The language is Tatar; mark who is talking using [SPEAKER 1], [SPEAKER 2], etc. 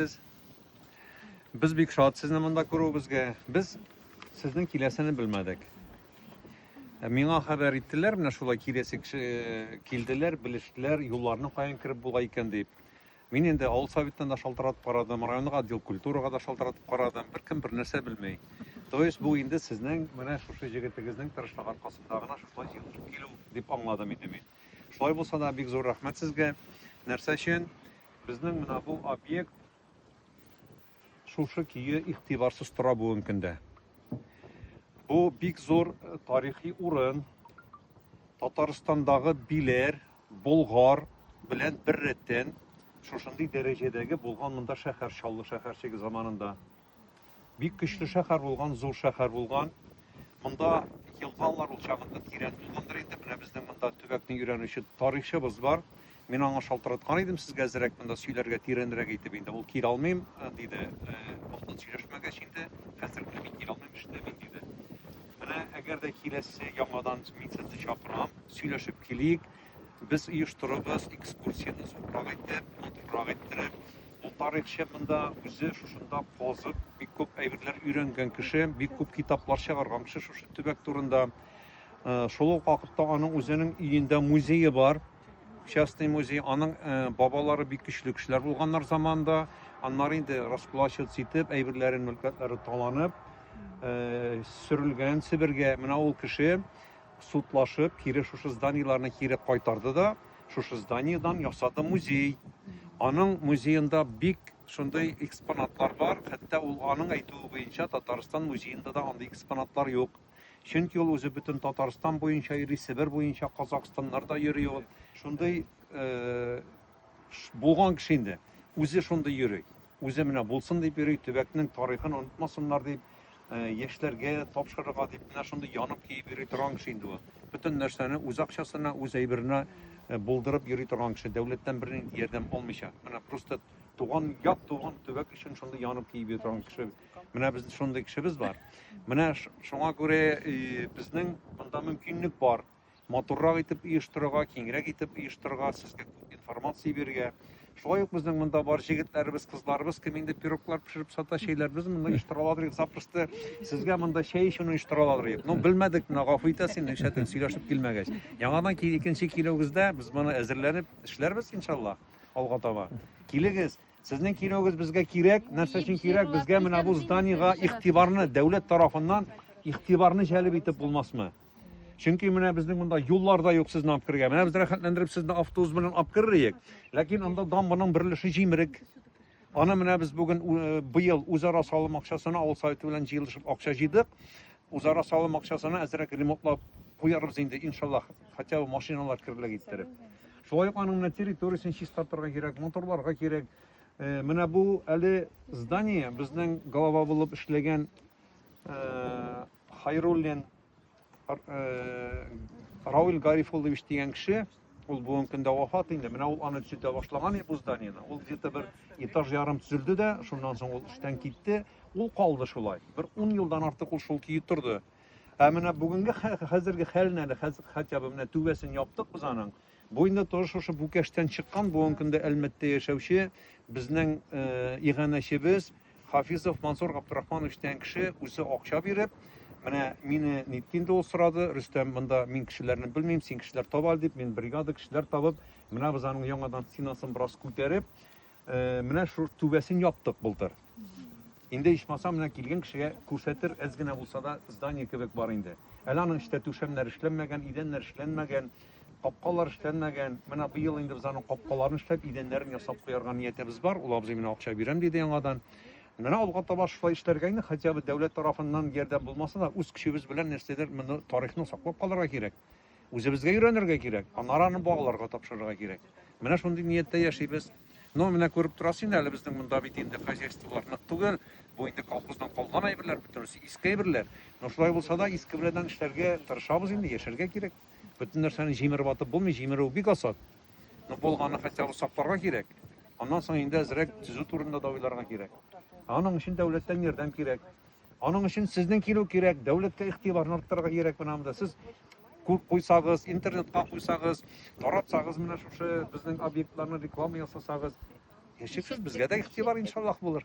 [SPEAKER 1] итәсез. Без бик шат сезне монда күрүебезгә. Без сезнең киләсене белмәдек. Ә миңа хәбәр иттеләр, менә шулай киләсе кеше э, килделәр, белештеләр, юлларны каян кереп була икән дип. Мин инде авыл советына да шалтыратып карадым, районга отдел культурага да шалтыратып карадым, беркем бер нәрсә белмей. То есть бу инде сезнең менә шушы җегетегезнең тырышлык аркасында гына шулай җыелышып килү дип аңладым инде мин. Шулай булса да бик зур рәхмәт сезгә. Нәрсә өчен? Безнең менә бу объект шушы көе игътибарсыз тора бүгенге көндә. Бу бик зур тарихи урын. Татарстандагы Биләр, Болгар белән бер рәттән шушындый дәрәҗәдәге булган монда шәһәр Чаллы шәһәрчеге заманында. Бик көчле шәһәр булган, зур шәһәр булган. Монда елгалар ул чагында тирән булгандыр инде. Менә безнең монда төбәкне өйрәнүче тарихчыбыз бар. Мин аңа шалтыраткан идем сезгә әзерәк монда сөйләргә тирәнрәк итеп инде. Ул килә алмыйм э, диде. Вакытын э, сөйләшмәгәч инде, хәзер генә мин килә алмыйм эштә мин диде. Менә әгәр дә киләсе яңадан мин сезне чакырам, сөйләшеп килик. Без оештырабыз экскурсияне зуррак итеп, матуррак иттереп. Ул тарихчы монда үзе шушында казып, бик күп әйберләр өйрәнгән кеше, бик күп китаплар чыгарган кеше шушы төбәк турында. Э, шул ук вакытта аның үзенең өендә музее бар частный музей аның э, бабалары бик көчле кешеләр булганнар заманда аннары инде раскулачиваться итеп әйберләрен мөлкәтләре таланып э, сөрелгән себергә менә ул кеше судлашып, кире шушы зданиеларны кире кайтарды да, шушы зданиедан ясады музей. Аның музеенда бик шундый экспонатлар бар, хәтта ул аның әйтүе буенча Татарстан музеенда да андый экспонатлар юк. Чөнки ул үзе бөтен Татарстан буенча йөри, Себер буенча, Казахстаннарда йөри ул. Шундый э, булган кеше инде. Үзе шундый йөри. Үзе менә булсын дип йөри, төбәкнең тарихын онытмасыннар дип, яшьләргә тапшырырга дип менә шундый янып киеп йөри торган кеше инде ул. Бөтен нәрсәне үз акчасына, үз әйберенә булдырып йөри торган кеше, дәүләттән бернинди ярдәм алмыйча. Менә просто туган ят, туган төбәк өчен шундый янып киеп йөри торган кеше. Менә без шундый кешебез бар. Менә шуңа күрә безнең монда мөмкинлек бар. матуррак итеп оештырырга, киңрәк итеп оештырырга, сезгә күп информация бирергә. Шулай ук безнең монда бар җегетләребез, кызларыбыз кем инде пироглар пешереп сата, чәйләребез монда оештыра аладыр идек. Запросто сезгә монда чәй эчүне оештыра аладыр идек. Ну, белмәдек, менә гафу итәсең, нишләтен сөйләшеп килмәгәч. Яңадан ки- икенче килүегездә без моны әзерләнеп эшләрбез иншалла алга таба. Килегез. Сезнең килүегез безгә кирәк. Нәрсә өчен кирәк? Безгә менә бу зданиегә игътибарны дәүләт тарафыннан игътибарны җәлеп итеп булмасмы? Чөнки менә безнең монда юллар да юк сезне алып керергә. Менә без рәхәтләндереп сезне автобус белән алып керриек. Ләкин анда дамбаның бер өлеше җимерек. Аны менә без бүген э, быел үзара салым акчасына авыл советы белән җыелышып акча җыйдык. Үзара салым акчасына әзрәк ремонтлап куярбыз инде, иншаллах, хотя бы машиналар керлек иттереп. Шулай ук аның менә территориясен чистартырга кирәк, моторларга кирәк. Э, менә бу әле здание безнең голова булып эшләгән Хайруллин Рауль Гарифуллович дигән кеше, ул бүгенге көндә вафат инде. Менә ул аны төзетә башлаган бу зданиене. Ул где-то бер этаж ярым төзелде дә, шуннан соң ул эштән китте. Ул калды шулай. Бер 10 елдан артык ул шул көе торды. Ә менә бүгенге хәзерге хәлен әле хотя бы менә түбәсен яптык без аның. Бу инде тоже шушы Бүкәштән чыккан, бүгенге көндә Әлмәттә яшәүче безнең иганәчебез Хафизов Мансур Габдрахманович дигән кеше үзе акча биреп, менә мине нитте инде ул сорады, Рөстәм, монда мин кешеләрне белмим, син кешеләр таба дип, мин бригада кешеләр табып, менә без аның яңадан стенасын бераз күтәреп, Э, менә шу түбәсен яптык былтыр. Инде ичмаса менә килгән кешегә күрсәтер, әз генә булса да здание кебек бар инде. Әле аның эштә түшәмнәр эшләнмәгән, идәннәр эшләнмәгән, капкалар эшләнмәгән. Менә быел инде без аның капкаларын эшләп, идәннәрен ясап куярга ниятебез бар. Ул абзый менә акча бирәм диде яңадан. Менә алга таба шулай эшләргә инде, хотя бы дәүләт тарафыннан ярдәм булмаса да, үз көчебез белән нәрсәдер моны тарихны саклап калырга кирәк. Үзебезгә өйрәнергә кирәк, аннары аны балаларга тапшырырга кирәк. Менә шундый нияттә яшибез. Но менә күреп торасыз инде, әле безнең монда бит инде хозяйстволар нык түгел. Бу инде колхоздан калган әйберләр, бөтенесе иске әйберләр. Но шулай булса да, иске белән эшләргә тырышабыз инде, яшәргә кирәк. Бөтен нәрсәне җимереп атып булмый, җимерү бик асат. Но булганны хотя бы сакларга кирәк. Аннан соң инде әзрәк төзү турында да уйларга кирәк. Аның өчен дәүләттән ярдәм кирәк. Аның өчен сезнең килү кирәк, дәүләткә игътибарны арттырырга кирәк менә монда. Сез күп куйсагыз, интернетка куйсагыз, таратсагыз менә шушы безнең объектларны реклама ясасагыз, яшерсез безгә дә игътибар иншаллах булыр.